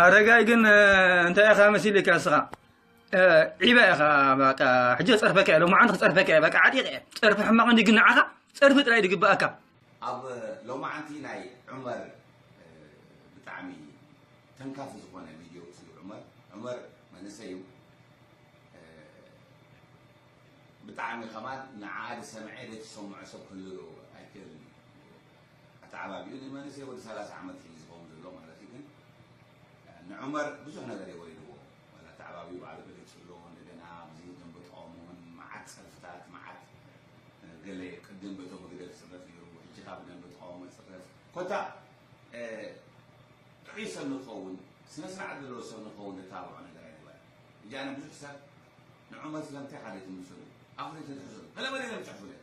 ኣረጋይ ግን እንታይ ኢኻ መሲልካ እስኻ ዒባ ኢኻ በቃ ሕጂ ጸርፈካ እየ ሎማዓንቲ ክጸርፈካ እየ በቃ ዓጢቐ እየ ጸርፊ ሕማቕ እንዲ ግን ንዓኻ ጸርፊ ጥራይ ድግብኣካ ኣብ ሎማዓንቲ ናይ ዑመር ብጣዕሚ ተንካፊ ዝኾነ ቪድዮ ስሉ ዑመር ዑመር መንእሰይ እዩ ብጣዕሚ ከማን ንዓኣ ዝሰምዐ ዘይተሰምዖ ሰብ ክህሉ ኣይክእልን እዩ ኣተዓባቢኡ ንመንእሰይ ወዲ ሰላሳ ዓመት እዩ ዝኸውን ዘሎ ማለት እዩ ግን ንዑመር ብዙሕ ነገር እዩ ወሪድዎ ወላ ኣተዓባቢኡ ባዕሉ ገሊጹ ኣሎ እንደገና ብዚ ደንበ ተቃውሞ እውን መዓት ጸርፍታት መዓት ገለ ቅድም በቶም መግደል ክጽረፍ ነይሩ ሕጂ ካብ ደንበ ተቃውሞ ክጽረፍ ኮታ ጥዑይ ሰብ ንክኸውን ስነ ስርዓት ዘለዎ ሰብ ንክኸውን ዝታብዖ ነገር ኣይነበረ እጂ ኣነ ብዙሕ ሰብ ንዑመር ስለምንታይ ሓደ ትምስሉ ኣፍሪ ተትሕዘሉ ገለ መለ ኢሎም ይጽሕፉ ነይሮም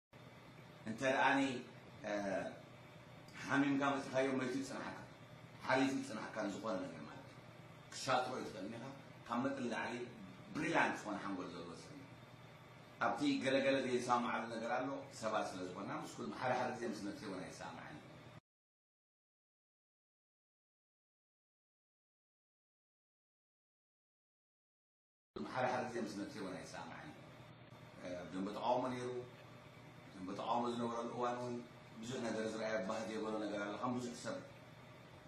እንተ ደኣኒ ሓሚምካ መጺኻዮ መይቱ ይጽንሓካ ሓሪፉ ይጽንሓካ ንዝኾነ ነገር ማለት እዩ ክትሻጥሮ እዩ ትኽእል እኒኻ ካብ መጠን ላዕሊ ብሪላንት ዝኾነ ሓንጎል ዘለዎ ሰብ እዩ ኣብቲ ገለገለ ዘይሰማማዓሉ ነገር ኣሎ ሰባት ስለ ዝኾና ምስ ኩልም ሓደ ሓደ ግዜ ምስ ነብሰይ እውን ኣይሰማማዕን ሓደ ሓደ ግዜ ምስ መትየ እውን ኣይሰማማዕን እየ። ኣብ ደንበ ተቓውሞ ነይሩ። ኣብ ደንበ ተቓውሞ ዝነበረሉ እዋን እውን ብዙሕ ነገር ዝርኣዮ ባህ ዘይበሎ ነገር ኣሎ። ከም ብዙሕ ሰብ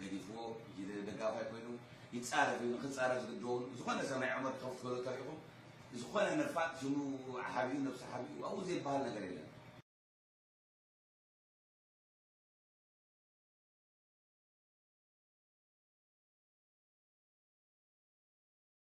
ገዲፍዎ ጅለ ደጋፋይ ኮይኑ ይፃረፍ እዩ። ንክፃረፍ ዝግድዶ እውን ዝኾነ ሰብ ናይ ዑመር ተኸፍት በሎ ተሪኹም ዝኾነ ነፋጥ ሽሙ ሓቢኡ ነብሱ ሓቢኡ ኣብኡ ዘይበሃል ነገር የለን።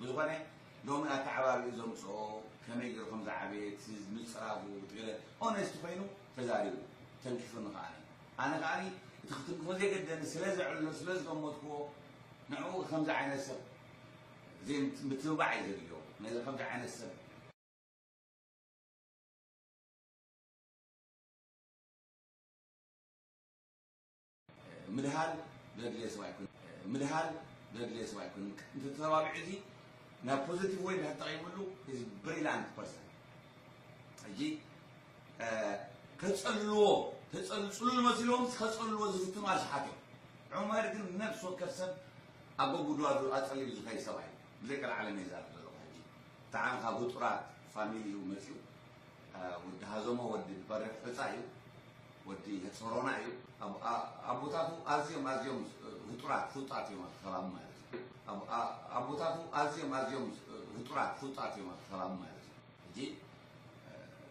ብዝኾነ ሎሚ ኣተዓባብይኡ ዘምጽኦ ከመይ ጌሩ ከም ዝዓበየ እቲ ምጽራጉ እቲ ገለ ኦነስት ኮይኑ ተዛሪቡ ተንኪፉኒ ከኣ ኣነ ከኣ እቲ ክትንክፎ ዘይገደኒ ስለ ዘዕልሎ ስለ ዝገመትክዎ ንዕኡ ከምዚ ዓይነት ሰብ ዘይምት ምትብባዕ እዩ ዘድልዮ ነዚ ከምዚ ዓይነት ሰብ ምድሃል ዘድልዮ ሰብ ኣይኮነን ምድሃል ዘድልዮ ሰብ ኣይኮነን እንተ ተባቢዑ እዚ ናብ ፖዘቲቭ ወይ እንዳ ተጠቒምሉ ኢዝ ብሪላንት ፐርሰን ሕጂ ከጸልልዎ ተጸል ጽሉል መሲሎም ከጸልልዎ ዝፍትኑ ኣሽሓት እዮም ዑመር ግን ነፍሲ ወከፍ ሰብ ኣብ በጉድዋዱ ኣጸሊሉ ዝኸይ ሰብኣይ ብዘይቀልዓለም እየ ዛረብ ዘለኹ ሕጂ ተዓንኻ ብጡራት ፋሚሊ እዩ መጺኡ ወዲ ሃዘሞ ወዲ በርሕ ፈፃ እዩ ወዲ ህፅሮና እዩ ኣቦታቱ ኣዝዮም ኣዝዮም ህጡራት ፍሉጣት እዮም ኣብቲ ከባቢ ማለት እዩ ኣቦታቱ ኣዝዮም ኣዝዮም ህጡራት ፍሉጣት እዮም ኣብቲ ከባቢ ማለት እዩ ሕጂ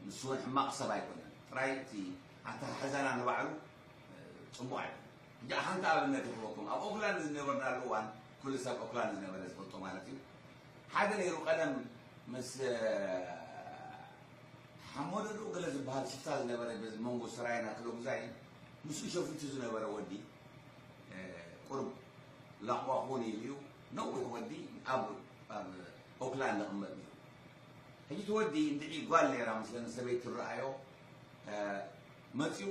ንሱ እውን ሕማቕ ሰብ ኣይኮነን ጥራይ እቲ ኣተሓሕዛና ንባዕሉ ፅቡቕ ኣይኮነ ሕጂ ሓንቲ ኣብነት ይኽበኩም ኣብ ኦክላንድ ዝነበርናሉ እዋን ኩሉ ሰብ ኦክላንድ ዝነበረ ዝፈልጦ ማለት እዩ ሓደ ነይሩ ቀደም ምስ ሓሞዶ ዶ ገለ ዝብሃል ሽፍታ ዝነበረ በዚ መንጎ ሰራየን ኣክለጉዛይን ምስኡ ሸፊቱ ዝነበረ ወዲ ቁሩብ ላቕዋ ክውን ኢሉ እዩ ነዊሕ ወዲ ኣብ ኦክላንድ ዝቕመጥ ነይሩ ሕጂ እቲ ወዲ እንድዒ ጓል ነይራ ምስለን ሰበይት ትረኣዮ መፅኡ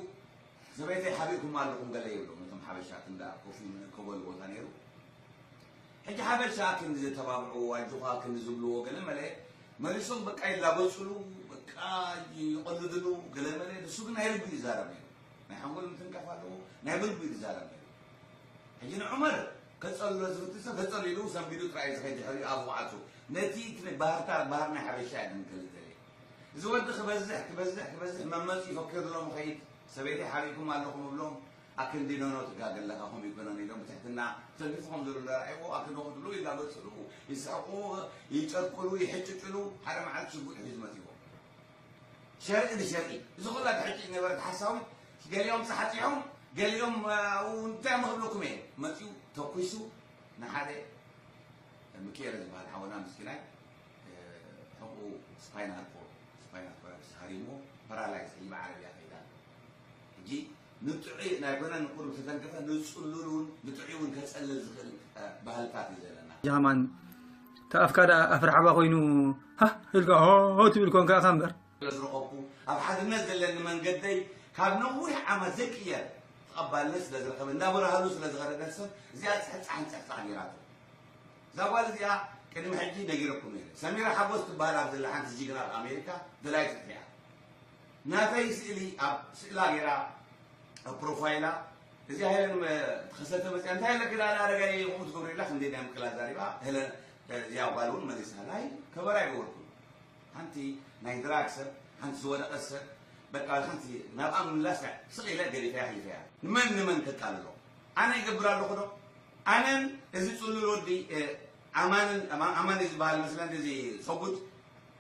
ሰበይተይ ሓቢእኩም ኣለኹም ገለ ይብሎም ነቶም ሓበሻት እንዳ ኮፍ መእከበሉ ቦታ ነይሩ ሕጂ ሓበሻ ክንዲ ዘተባብዕዎ ኣጆኻ ክንዲ ዝብልዎ ገለመለ መሊሶም በቃ ይላገጽሉ በቃ ይቐልድሉ ገለመለ ንሱ ግን ናይ ልቡ እዩ ዝዛረብ ነይሩ ናይ ሓንጎል ምትንካፍ ኣለዎ ናይ ብልቡ እዩ ዝዛረብ ነይሩ ሕጂ ንዑመር ከጸልሎ ዝፍትን ሰብ ከጸሉ ኢሉ ሰንቢዱ ጥራይ እዩ ዝኸይድ ድሕሪኡ ኣፉ ክዓጹ ነቲ ባህርታ ባህር ናይ ሓበሻ እየ ግን ክልተ እዚ ወዲ ክበዝሕ ክበዝሕ ክበዝሕ መመጽ ይፈክር ሎም ኸይድ ሰበይተይ ሓሪኩም ኣለኹም እብሎም ኣክንዲ ኖኖ ትጋገ ኣለካ ከምኡ ኣይኮነን ኢሎም ብትሕትና ሰልፊ ከም ዘሎ እንዳረኣይዎ ኣክንዲ ከምኡ ትብሉ ይላገጽሉ ይስሕቁ ይጨቅሉ ይሕጭጭሉ ሓደ መዓልቲ ሽጉጥ ሒዙ መጺዎ ሸርኢ ንሸርኢ እዚ ኩላ ትሕጭጭ ነበረት ሓሳዊት ገሊኦም ጻሕጺሖም ገሊኦም እንታይ ምክብለኩም እየ መጺኡ ተኩሱ ንሓደ ምክኤለ ዝበሃል ሓወና ምስኪናይ ሕቁኡ ስፓይናል ኮር ስፓይናል ኮር ሃሪሞ ፓራላይዝ ሒባ ዓረብያ ከይዳ ሕጂ ንጥዑይ ናይ ኮነ ንቁሩብ ተተንከፈ ንጽሉል ውን ንጥዑይ ውን ከጸልል ዝክእል ባህልታት እዩ ዘለና። ጃማን እታ ኣፍካ ደኣ ኣፍ ራሕባ ኮይኑ ሃህ ኢልካ ሆሆ ትብል ኮንካ ኢካ እምበር። ስለዝረኸብኩ ኣብ ሓድነት ዘለኒ መንገደይ ካብ ነዊሕ ዓመት ዘይቅየር ተቐባልነት ስለዝረኸበ እንዳበረሃሉ ስለዝኸደ ደርሰን እዚኣ ጽሕጻሕን ጽሕጻሕ ጌራቶ እዛ ጓል እዚኣ ቅድሚ ሕጂ ነጊረኩም ነይረ ሰሚራ ሓጎስ ትበሃል ኣብ ዘላ ሓንቲ ጅግና ኣብ ኣሜሪካ ደላይት ፍትሒ እያ ናተይ ስእሊ ኣብ ስእላ ጌራ ኣብ ፕሮፋይላ እዚኣ ሄለን ተኸሰተ መፅያ እንታይ ኣለኪ ዳኣ ኣረጋይ ይኹም ትገብሪላ ክንደይ ናይ ምቅላ ዛሪባ ሄለን እዚኣ ጓል እውን መሊሳ ናይ ከበራ ይገበርኩ ሓንቲ ናይ ድራግ ሰብ ሓንቲ ዝወደቐት ሰብ በቃ ሓንቲ ናብኣ ምምላስ ስቕ ኢለ ገዲፈያ ኣሕሊፈያ ንመን ንመን ከቃልሎ ኣነ ይገብር ኣለኹ ዶ ኣነን እዚ ፅሉል ወዲ ኣማንን ኣማን ዝበሃል መስለን እዚ ሰጉድ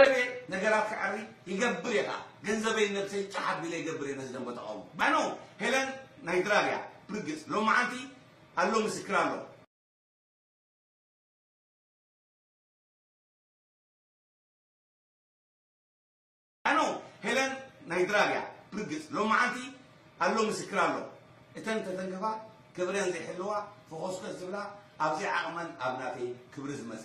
ኣነ'የ ነገራት ክዐሪ ይገብር እየ ከኣ ገንዘበይን ነብሰይን ጫሕ ኣቢለ ይገብር እየ ነዚ ደንበ ተቓውሞ ባይኖ ሄለን ናይ ድራር እያ ብርግጽ ሎምዓንቲ ኣሎ ምስክር ኣሎ። ባይኖ ሄለን ናይ ድራር እያ ብርግጽ ሎምዓንቲ ኣሎ ምስክር ኣሎ። እተን ተተንክፋ ክብረን ዘይሕልዋ ፈኾስከስ ዝብላ ኣብ ዘይዓቕመን ኣብ ናተይ ክብሪ ዝመጸ።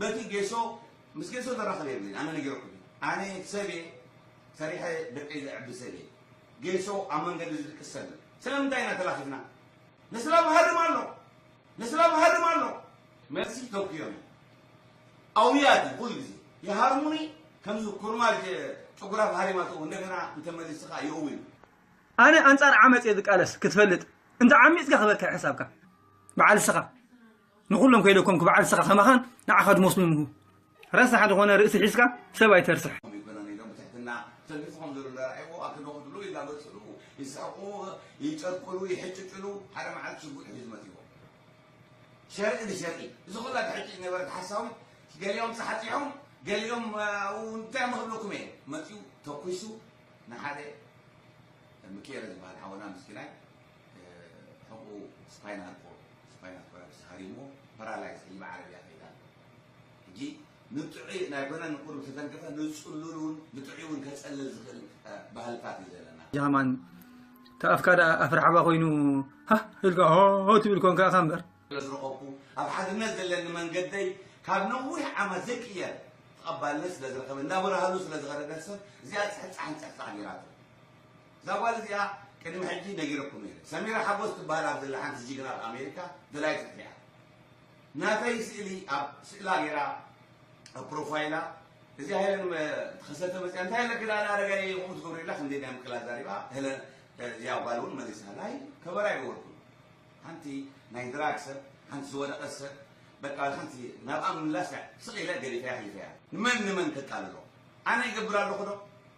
በቲ ጌሶ ምስ ጌሶ ዘራኽብ የብለይን ኣነ ነጊረኩም እየ ኣነ ሰብ እየ ሰሪሐ ደቀይ ዘዕቢ ሰብ እየ ጌሶ ኣብ መንገዲ ዝድቅስ ሰብ እዩ ስለምንታይ ኢና ተላኺፍና ንስላብ ሃርም ኣሎ ንስላብ ሃርም ኣሎ መልሲ ተውክዮ እየ ኣውያት ኩሉ ግዜ ይሃርሙኒ ከምዚ ኩርማጅ ጭጉራፍ ሃሪማቶ እንደገና እንተመሊስኻ ይእው እዩ ኣነ ኣንጻር ዓመጽ እየ ዝቃለስ ክትፈልጥ እንተ ዓሚጽካ ክበካ እዩ ሕሳብካ በዓል እስኻ። ንኹሎም ከይደኮምኩ በዓል ንስኻ ከማኻን ንዓኻ ዝመስሉን ንሁ ረሳሕ ዝኾነ ርእሲ ሒዝካ ሰብ ኣይተርስሕ። ተሊፍኾም ዘሎ ዳርዒዎ ኣክዶ ክድሉ ይላገፅሉ ይስሕቁ ይጨርቅሉ ይሕጭጭሉ ሓደ መዓልቲ ሽጉጥ ሒዙ መፂዎ ሸርቂ ንሸርቂ እዚ ኩላ ትሕጭጭ ነበረት ሓሳዊ ገሊኦም ፀሓፂሖም ገሊኦም እንታይ ምክብለኩም እየ መፂኡ ተኩሱ ንሓደ ምክኤለ ዝበሃል ሓወና ምስኪናይ ሕቕኡ ስፓይናል ኮርድ ስፓይናል ኮርድ ሃሪሞ ፓራላይዝ ሒዝባ ዓረብያ ከይዳ ኣሎ ሕጂ ንጥዑይ ናይ ጎና ንቁሩብ ተተንከፈ ንጽሉል እውን ንጥዑይ እውን ከጸልል ዝኽእል ባህልታት እዩ ዘለና ጃማን ተኣፍካ ደኣ ኣፍርሓባ ኮይኑ ሃ ኢልካ ሆ ትብል ኮንካ ኢኻ እምበር ስለዝረኸብኩ ኣብ ሓድነት ዘለኒ መንገደይ ካብ ነዊሕ ዓመት ዘይቅየር ተቐባልነት ስለዝረኸበ እንዳበረሃሉ ስለዝኸደ ደርሰን እዚኣ ፅሕፃሕን ፅሕፃሕ ገይራቶ እዛ ጓል እዚኣ ቅድሚ ሕጂ ነጊረኩም ነይረ ሰሚራ ሓጎስ ትበሃል ኣብ ዘላ ሓንቲ ጅግና ኣብ ኣሜሪካ ደላዪት ፍትሒ እያ ናተይ ስእሊ ኣብ ስእላ ገይራ ኣብ ፕሮፋይላ እዚኣ ሄለን ተኸሰተ መፅያ እንታይ ኣለኪ ዳኣ ኣረጋይ ይኹም ትገብሩ ኢላ ከምዘይ ናይ ምቅላ ዛሪባ ሄለን እዚኣ ጓል እውን መሊሳ ናይ ከበራ ይገበርኩም ሓንቲ ናይ ድራግ ሰብ ሓንቲ ዝወደቐ ሰብ በቃ ሓንቲ ናብኣ ምምላስ ስቕ ኢለ ገዲፈያ ሒፈያ ንመን ንመን ከቃልሎ ኣነ ይገብር ኣለኹ ዶ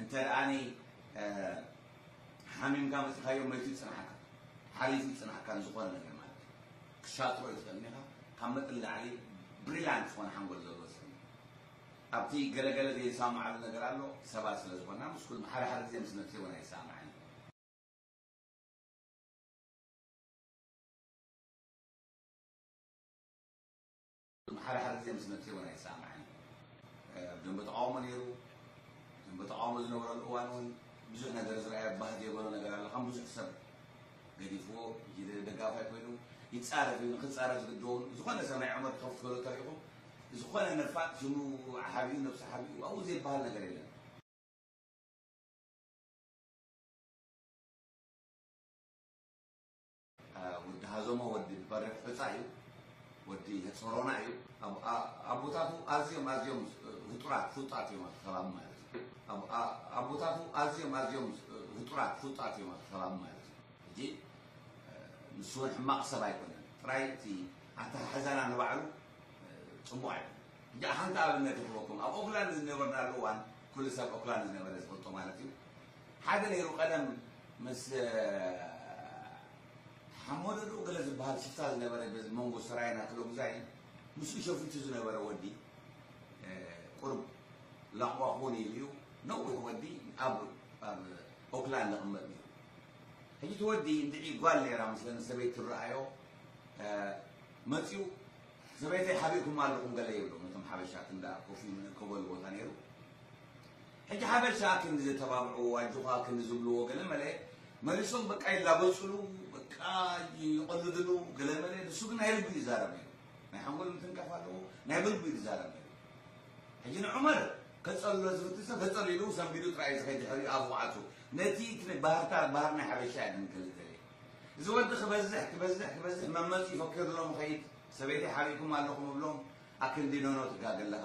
እንተ ሓሚምካ መፅኻዮ መይቱ ይፅንሓካ ሓሪፍ ይፅንሓካ ንዝኾነ ነገር ማለት እዩ ክሻጥሮ እዩ ትኽእል ኢኻ ካብ መጠን ላዕሊ ብሪላንት ዝኾነ ሓንጎል ዘለዎ ሰብ ኣብቲ ገለገለ ዘይሰማማዓሉ ነገር ኣሎ ሰባት ስለ ዝኾና ምስ ኩሉ ሓደ ሓደ ግዜ ምስ ነብሲ እውን ኣይሰማማዕን ሓደ ሓደ ግዜ ምስ መጺ እውን ኣይሰማማዕን ኢዩ። ኣብ ደንበ ተቓውሞ ነይሩ። ኣብ ደንበ ተቓውሞ ዝነበረሉ እዋን እውን ብዙሕ ነገር ዝረኣዮ ባህ ዘይበሎ ነገር ኣሎ። ከም ብዙሕ ሰብ ገዲፍዎ ጅለ ደጋፋይ ኮይኑ ይጻረፍ ኢዩ። ንክጻረፍ ዝግድዶ እውን ብዝኾነ ሰብ ናይ ዑመር ቶኽ ትበሉ ተሪኹም ብዝኾነ ነፋጥ ሽሙ ሓቢኡ ነብሱ ሓቢኡ ኣብኡ ዘይበሃል ነገር የለን። ወዲ ሃዘሞ ወዲ በርህ ዕፃ እዩ ወዲ ጾሮና እዩ ኣቦታቱ ኣዝዮም ኣዝዮም ህጡራት ፍሉጣት እዮም ኣብቲ ከባቢ ማለት እዩ ኣቦታቱ ኣዝዮም ኣዝዮም ህጡራት ፍሉጣት እዮም ኣብቲ ከባቢ ማለት እዩ ሕጂ ንሱ እውን ሕማቕ ሰብ ኣይኮነን ጥራይ እቲ ኣተሓሕዛና ንባዕሉ ፅቡቕ ኣይኮነ ሕጂ ሓንቲ ኣብነት ይኽበኩም ኣብ ኦክላንድ ዝነበርናሉ እዋን ኩሉ ሰብ ኦክላንድ ዝነበረ ዝፈልጦ ማለት እዩ ሓደ ነይሩ ቀደም ምስ ሓሞደድኡ ገለ ዝብሃል ሽፍታ ዝነበረ በዚ መንጎ ሰራየን ኣከለጉዛይን ምስኡ ሸፊቱ ዝነበረ ወዲ ቁሩብ ላቕዋ ክውን ኢሉ እዩ ነዊሕ ወዲ ኣብ ኣብ ኦክላንድ ዝቕመጥ ነይሩ ሕጂ እቲ ወዲ እንድዒ ጓል ነይራ ምስለን ሰበይት ትረኣዮ መፂኡ ሰበይተይ ሓቢእኩም ኣለኹም ገለ ይብሎም እቶም ሓበሻት እንዳ ኮፍ ኢሉ ንእከበሉ ቦታ ነይሩ ሕጂ ሓበሻ ክንዲ ዘተባብዕዎ ኣጆኻ ክንዲ ዝብልዎ ገለ መለ መሊሶም በቃ ይላገጽሉ በቃ ይቐልድሉ ገለ መለ ንሱ ግን ናይ ልቡ እዩ ዝዛረብ ነይሩ ናይ ሓንጎል ምትንካፍ ኣለዎ ናይ ብልቡ እዩ ዝዛረብ ነይሩ ሕጂ ንዑመር ከጸልሎ ዝፍትን ሰብ ተጸሊሉ ኢሉ ሰንቢዱ ጥራይ እዩ ዝኸይድ ድሕሪኡ ኣፉ ክዓጹ ነቲ ባህርታት ባህር ናይ ሓበሻ እያ ግን ክልተ እዚ ወዲ ክበዝሕ ክበዝሕ ክበዝሕ መመጽ ይፈክር ኣሎ ምኸይድ ሰበይተይ ሓቢእኩም ኣለኹም እብሎም ኣክንዲ ኖኖ ትጋገ ኣለኻ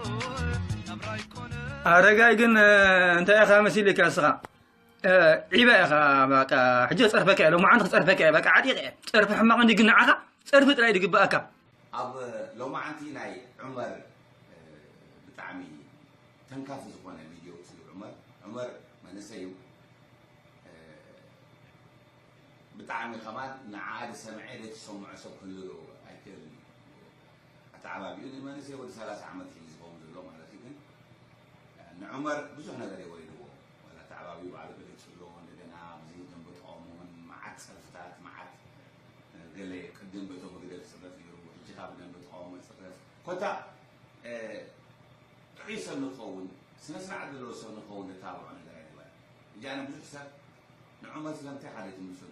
ኣረጋይ ግን እንታይ ኢኻ መሲልካ እስኻ ዒበ ኢኻ በቃ ሕጂ ክፀርፈካ እየ ሎማዓንቲ ክፀርፈካ እየ በቃ ዓጢቐ እየ ፀርፊ ሕማቕ እንዲ ግን ንዓኻ ፀርፊ ጥራይ ዝግበኣካ ኣብ ሎማዓንቲ ናይ ዑመር ብጣዕሚ ተንካፊ ዝኾነ ቪድዮ ስሉ ዑመር ዑመር መንእሰይ እዩ ብጣዕሚ ከማን ንዓኣ ዝሰምዐ ዘይትሰምዖ ሰብ ክህሉ ኣይክእልን እዩ ኣተዓባቢኡ ንመንእሰይ ወዲ ሰላሳ ዓመት እዩ ዝኸውን ዘሎ ማለት'ዩ ግን ንዑመር ብዙሕ ነገር እየ ወሪድዎ ወላ ኣተዓባቢኡ ባዕሉ ገሊጹ'ሎ እንደገና ብዚ ደም ብጥቐሙ ውን መዓት ጸርፍታት መዓት ገለ ቅድም በቶም ብግደል ዝጽረፍ ነይሩ ሕጂ ካብ ብደም ብጥቐሙ ዝጽረፍ ኮታ ጥዑይ ሰብ ንክኸውን ስነ ስርዓት ዘለዎ ሰብ ንክኸውን ዘተባብዖ ነገር ኣይነበረ ሕጂ ኣነ ብዙሕ ሰብ ንዑመር ስለምንታይ ሓደ ትምስሉ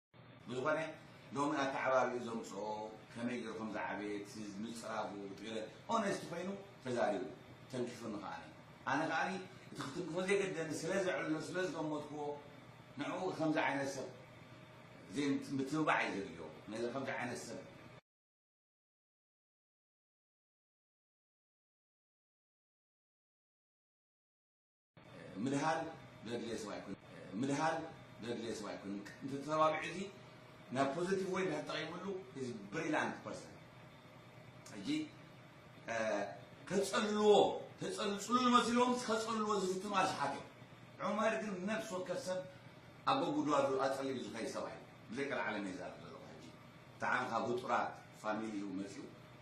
ብዝኾነ ሎሚ ኣተዓባብይኡ ዘምጽኦ ከመይ ጌሩ ከም ዝዓበየ እቲ ምጽራጉ እቲ ገለ ኦነስት ኮይኑ ተዛሪቡ ተንኪፉኒ ከኣ ኣነ ከኣ እቲ ክትንክፎ ዘይገደኒ ስለ ዘዕልሎ ስለ ዝገመትክዎ ንዕኡ ከምዚ ዓይነት ሰብ ዘይምትብባዕ እዩ ዘድልዮ ነዚ ከምዚ ዓይነት ሰብ ምድሃል ዘድልዮ ሰብ ኣይኮነን ምድሃል ዘድልዮ ሰብ ኣይኮነን እንተ ተተባቢዑ እዚ ናብ ፖዘቲቭ ወይ እንድሕር ተጠቒምሉ ኢዝ ብሪላንት ፐርሰን ሕጂ ከጸልልዎ ተጸልጽሉል መሲሎም ከጸልልዎ ዝፍትኑ ኣሽሓት እዮም ዑመር ግን ነፍሲ ወከፍ ሰብ ኣብ ጉድጓዱ ኣጸሊሉ ዝኸይ ሰብኣይ ብዘይ ቀልዓለም እየ ዛረብ ዘለኹ ሕጂ ብጣዕሚ ካብ ውጡራት ፋሚሊ እዩ መጺኡ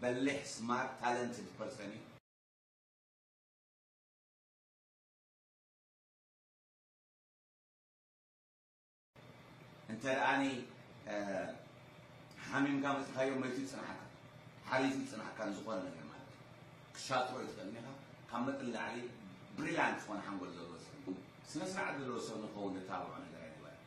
በሊሕ ስማርት ታለንትድ ፐርሰን እዩ። እንተደኣኒ ሓሚምካ መጺእካዮ መይቱ ይጽንሓካ ሓሪፉ ይጽንሓካ ንዝኾነ ነገር ማለት እዩ ክሻጥሮ ይትኽእል እኒኻ ካብ መጠን ንላዕሊ ብሪላንት ዝኾነ ሓንጎል ዘለዎ ሰብ ስነ ስርዓት ዘለዎ ሰብ ንክኸውን እተባብዖ ነገር ኣይነበረን